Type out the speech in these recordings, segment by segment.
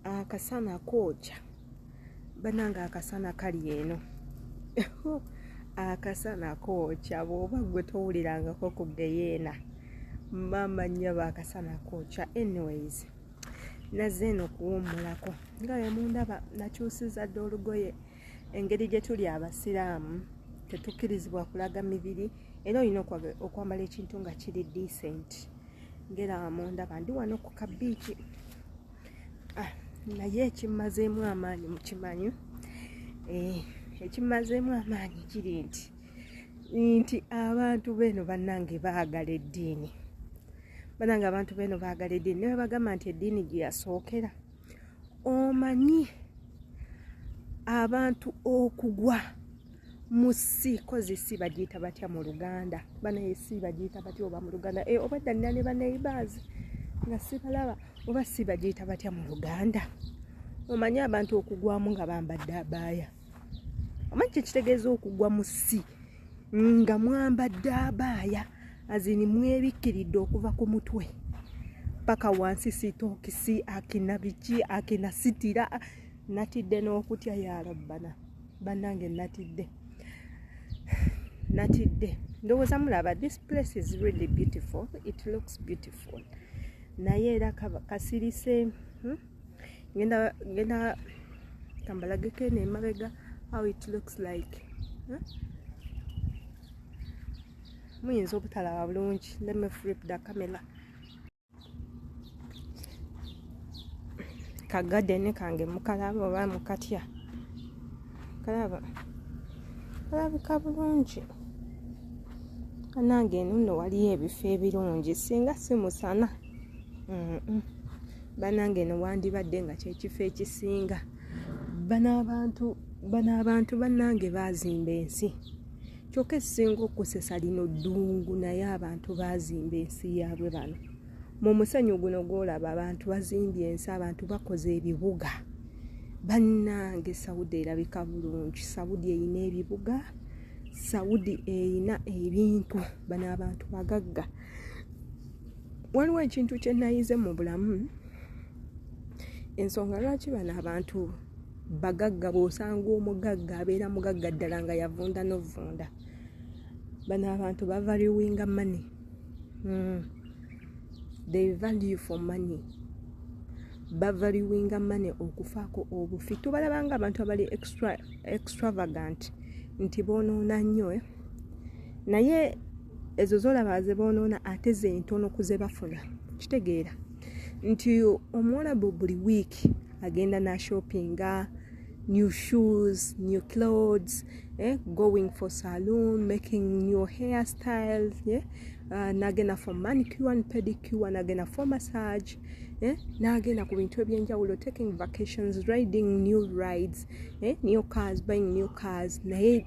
akasana kooca banange akasana kali eno akasana kooca bwoba gwe towulirangako ku geyeena maama nyaba akasana kooca anyways nazze eno okuwummulako nga wemundaba nakyusiza dde olugoye engeri gye tuli abasiraamu tetukkirizibwa kulaga mibiri era olina okwambala ekintu nga kiri decenti ngera mundaba ndi wano ku kabiiki ah, naye ekimmazeemu amaanyi mukimanyi eh, ekimmazeemu amaanyi kiri nti nti abantu beeno bannange baagala eddiini bannange abantu beeno baagala eddiini nebagamba nti eddiini gyeyasookera omanyi abantu okugwa musi kozi si bagiyita batya mu luganda banaye si bagiyita batya oba mu luganda e, oba ddanira ne baneighbors nga sibalaba oba si bagiyita batya mu luganda omanyi abantu okugwamu nga bambadde abaaya omanyi kyekitegeeza okugwa musi nga mwambadde abaaya azini mwebikkiridde okuva ku mutwe paka wansi sitokisi akina biki akina sitira natidde n'okutya yarabbana bannange natidde natidde ndowooza mulaba this place is really beautiful it looks beautiful naye era kasirise hmm? ngenda ngenda kambalageko eno emabega how it looks like huh? muyinza obutalaba bulungi let me flip the camera ka garden kange mukalaba oba mukatya kalaba kalabika bulungi anange eno nno waliyo ebifo ebirungi singa simusana banange no wandibadde nga kyekifo ekisinga banaabantu banaabantu banange baazimba ensi kyokka ekisinga okusesa lino ddungu naye abantu baazimba ensi yaabwe bano mu musenyu guno gwolaba abantu bazimbye ensi abantu bakoze ebibuga bannange saudi erabika bulungi saudi erina ebibuga saudi erina ebintu bano abantu bagagga waliwo ekintu kye nayize mu bulamu ensonga lwaki bano abantu bagagga bw'osanga omugagga abeera mugagga ddala nga yavunda novunda bano abantu bavaliwinga money mm. they value for money bavaliwinga money okufaako obufi tubalabanga abantu abali extravagant nti bonoona nnyo eh? naye ezo zolaba zebonoona ate zentono kuzebafuna kitegeera nti omuwalabu buli wiiki agenda nashoppinga new shoes new clothes eh, going for saloon making new hair styles yeah? uh, nagenda for manicure and pedicure nagenda for massage eh, nagenda ku bintu ebyenjawulo taking vacations riding new rides eh, new cars buying new cars naye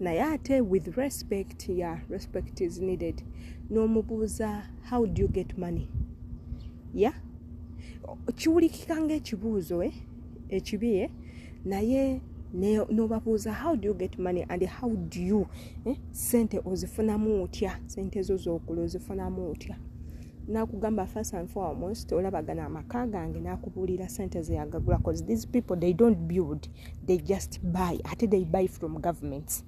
naye ate with respect ya yeah, respect is needed n'omubuuza how do you get money ya yeah? kiwulikika ngaekibuuzo eh? ekibi eh? naye nobabuuza how do you get money and how do you eh? sente ozifunamu otya sente zo zokula ozifunamu otya nakugamba first and foremost olabagana amaka gange nakubuulira sente zeyagagula bcause these people they don't build they just buy ate they buy from governments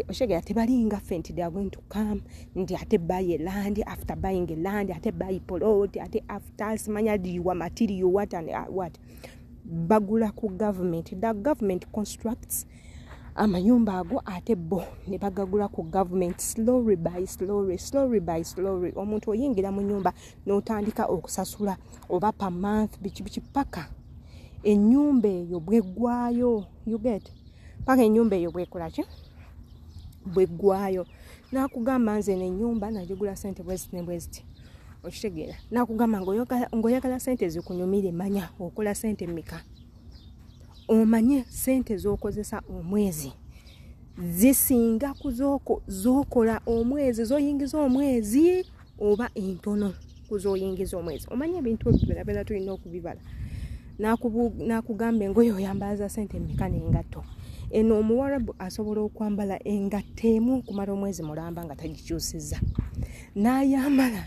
oshegera tebalinga ffe nti they are going to come nti ate buy a land after buying a land ate buy polot ate after simanya liwa material what and uh, what bagula ku government the government constructs amayumba ago ate bo ne bagagula ku government slowly by slowly slowly by slowly omuntu oyingira mu nyumba n'otandika okusasula oba per month biki biki paka enyumba eyo bweggwayo uget paka enyumba eyo bwekolaki bweggwayo nakugamba nze nenyumba nagigula sente bweziti nebweziti okitegeera nakugamba ngaoyagala sente zikunyumire manya okola sente mika omanye sente zokozesa omwezi zisinga kuzokola omwezi zoyingiza omwezi oba entono kuzoyingiza omwezi omanya ebintu ebyobeera tulina okubibala nakugamba engoye oyambalaza sente emeka nengatto eno omuwarabu asobola okwambala engatto emu okumala omwezi mulamba nga tagikyusiza nayambala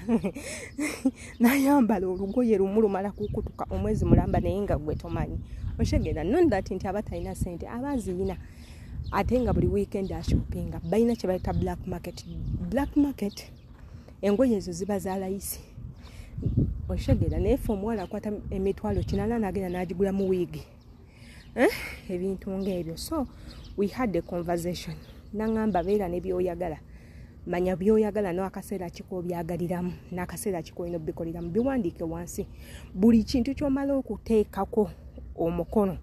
nayambala olugoye lumu lumala kukutuka omwezi mulamba naye nga gwe tomanyi oshegera non that nti abatalina sente abaziyina ate nga buli weekend ashopinga balina kyebayita black market black market engoye ezo ziba za layisi okitegera naye fe omuwala akwata emitwalo kinana nagenda nagigula mu wiigi eh? ebintu ngaebyo so we had a conversation nangamba beera nebyoyagala manya byoyagala nakaseera kiko obyagaliramu nakaseera kiko olina obikoleramu biwandiike wansi buli kintu kyomala okuteekako omukono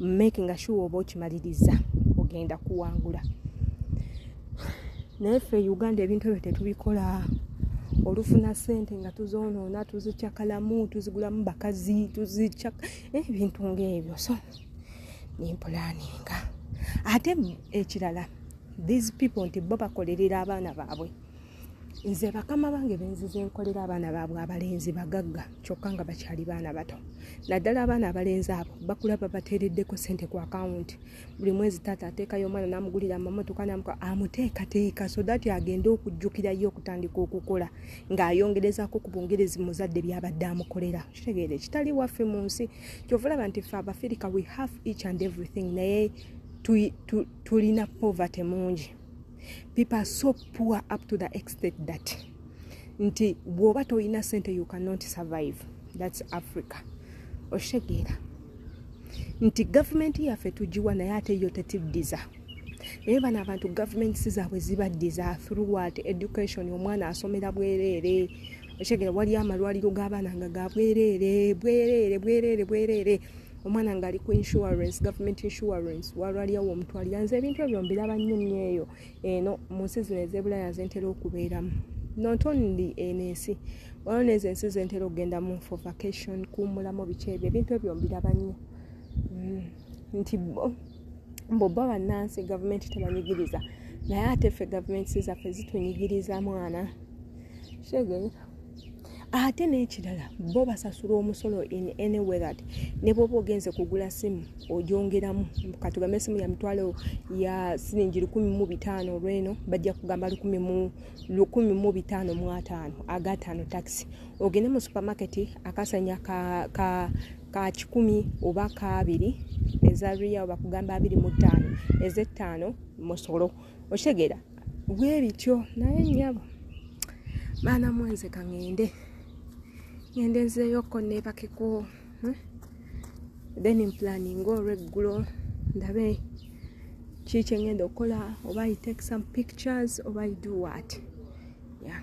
making sure oba okimaliriza ogenda kuwangula naye ffe uganda ebintu ebyo tetubikola olufuna sente nga tuzoonoona tuzikyakalamu tuzigulamu bakazi tuzikya eh, ebintu ngaebyo so nempulaninga ate ekirala these people nti bo bakolerera abaana baabwe nze bakama bange benzize nkolera abaana baabwe abalenzi bagagga kyokka nga bakyali baana bato naddala abaana abalenzi abo bakula babateereddeko sente ku akawunti buli mwezi taata ateekayo omwana namugulira amamotoka namuka amuteekateeka so that agende okujjukirayo okutandika okukola ng'ayongerezako ku bungerezi muzadde byabadde amukolera kitegeere kitali waffe mu nsi kyovalaba nti fe abafirika we have each and everything naye tulina poverty mungi people are so poor up to the extent that nti bwoba toyina sente you cannot survive thats africa okitegeera nti gavumenti yaffe tugiwa naye ate yo tetiddiza naye bano abantu gavumenti zaabwe zibaddiza throughwat education omwana asomera bwereere okitegeera waliyo amalwaliro g'abaana nga ga bwereere bwereere bwereere bwereere omwana ngaali ku insurance government insurance walwaliawo omuntu alira nze ebintu ebyo mbiraba nnyo nnyo eyo eno mu nsi zino ezebulaya zentera okubeeramu not only eno ensi waliwo nezo ensi zentera okugendamu for vacation kuwumulamu biki ebyo ebintu ebyo mbiraba nnyo mm. nti bo bobba bannansi gavumenti tebanyigiriza naye ate ffe gavumenti zaffe zitunyigiriza mwana kitegeera ate n'ekirala bo basasula omusolo in any way that ne bwoba ogenze kugula simu ogyongeramu katugambe esimu ya mitwalo ya siringi lukumi mu bitaano olweno bajja kugamba lukumi mu bitaano mu ataano agataano takisi ogende mu supermarket akasanya ka, ka ka kikumi oba kaabiri eza riyawo bakugamba abiri mu ttaano ezettaano musolo okitegeera bwebityo naye nyabo baana mwenze kaŋende ŋende nzeyoko nebakeko hmm? then mplaning olweggulo ndabe kiki eŋenda okukola oba i take some pictures oba i do what yeah.